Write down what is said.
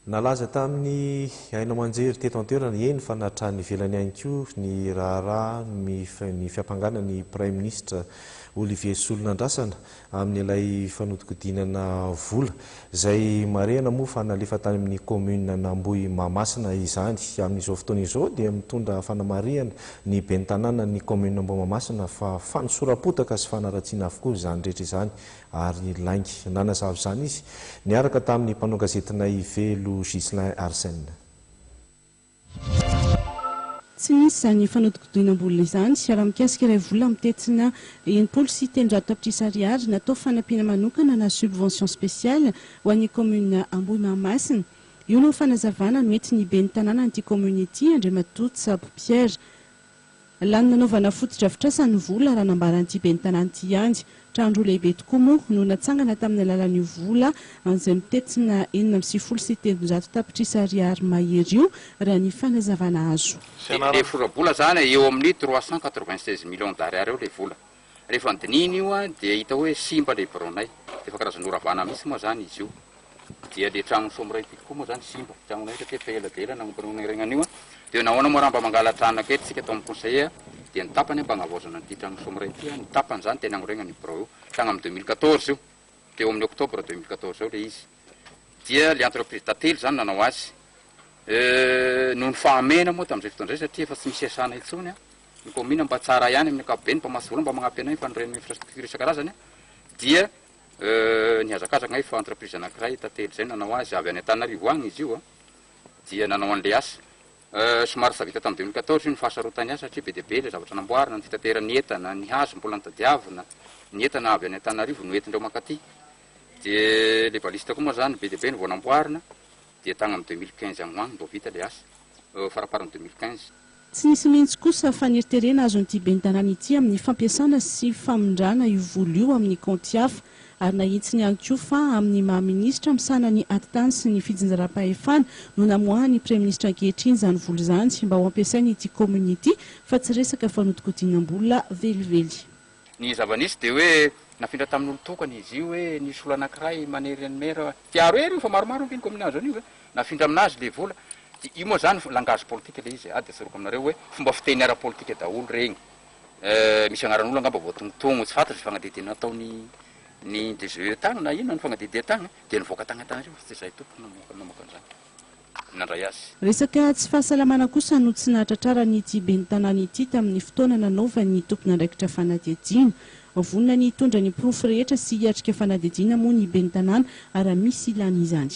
Nalaza tamin'ny haino aman-jery teto an-toerana, eny fa na hatrany ivelany ihany koa, ny raharaha ny fiampangana ny praiminisitra Olivier Rasolonandrasana amin'ilay fanodinkodinana vola, izay marihana moa fa nalefa tany amin'ny kaominin'Ambohimahamasina izany. Amin'izao fotoana izao dia mitondra fanamarihana ny ben'ny tanànan'ny kaominin'Ambohimahamasina fa fanosoram-potaka sy fanaratsiana avokoa izany rehetra izany ary lainga. Nanazava izany izy, niaraka tamin'ny mpanao gazetinay Velo Ghislain Arsène. Tsy misy izany fanodikodinam-bola izany. Raha mikasika ilay vola mitentina enimpolo sy telonjato tapitrisa ariary natao fanampiana manokana na subvention spéciale ho an'ny kaominina Ambohimahamasina, io no fanazavana noentin'ny ben'ny tanànan'ity kaominina ity, Andriamatoa Tsabo Pierre. Lany nanaovana fotodrafitrasa ny vola, raha nambaran'ity ben'ny tanàna ity ihany. Trano roa lehibe tokoa moa no natsangana tamin'ny alalan'io vola izay mitentina enina amby sivifolo sy telonjato tapitrisa ariary mahery io, raha ny fanazavana azo. Dia ilay vola mbola izany eo amin'ny trois cent quatre-vingt-seize millions d'ariary eo ilay vola. Rehefa nodinihina io dia hita hoe simba ilay biraonay. Efa karazana oravana mihitsy moa izany izy io. Dia ilay tranon'i Somiray Pity koa moa izany simba. Tranonay taty efa ela dia ela nanomboka nonerenana an'io. Dia nahoana moa raha mba mangala trano aketo isika tao amin'ny conseiller dia ny tapany mba hagnavaozana an'ity tranon'i Somiray ity. Ny tapany izany dia ny hagnoregna an'io birao io. Tagny amin'ny deux mille quatorze io. Teo amin'ny octobre deux mille quatorze ao ilay izy. Dia ilay entreprise tantely izany nanao azy. Euh, noho ny fahamehana moa tamin'izay fotoana izay satria efa tsy misy iasana intsony an. ny kaominina mba tsara ihany amin'ny ankapobeny mba mahazo vola mba magnampy anay fanorian'ny infrastructure isan-karazany dia nihazakazaka anay fa entreprise anankiray tantely izay nanao azy avy any Antananarivo agny izy io dia nanao an'ilay asa somary efa vita tamin'ny deux mille quatorze io ny fahasarotany azy satria be dia be ilay zavatra namboarina ny fitateran'ny entana ny hazo mbola notadiavina ny entana avy any Antananarivo no entindreo mankaty dia ilay baliste koa moa zany be dia be no vao namboarina dia tagny amin'ny deux mille quinze agny ho agny vao vita ilay asa faraparan'ny deux mille quinze Tsy nisy mihitsy kosa faneriterena azon'ity ben'ny tanàna ity amin'ny fampiasana sy famindrana io vola io amin'ny kaonty hafa ary nahitsiny ihany koa fa amin'ny maha minisitra misahana ny atitany sy ny fijinjaram-pahefana no namoahan'ny praiminisitra ankehitriny izany vola izany mba ho ampiasain'ity kaominina ity fa tsy resaka fanodinkodinam-bola velively Ny zava-nisy dia hoe nafindra tamin'olon-tokana izy io hoe nisy olona anankiray manery an'i Me Ra tiaro ery io fa maromaro ange ny kaominina azo an'io ve? Nafindra aminazy ilay vola. Dia io moa izany langage politika ilay izy e! Ady atsoriko aminareo hoe fomba fiteny ara-politika daholo ireny. Eh, misy anaran'olona angamba voatongotongo, tsy fantatro izay fagnadiadiana nataon'ny ny DGE tagny na inona ny fagnadiadian-tagny dia nivoaka tagny an-tanareo fa tsy izahay tompoko namoaka namoaka an'izany. nandray azy. Resaka tsy fahasalamana kosa no tsy nahatratraran'ity ben'ny tanàna ity tamin'ny fotoana nanaovan'ny tompon'andraikitra fanadihadiana. Vonona ny hitondra ny porofo rehetra sy hiatrika fanadihadiana moa ny ben'ny tanàna raha misy ilàna izany.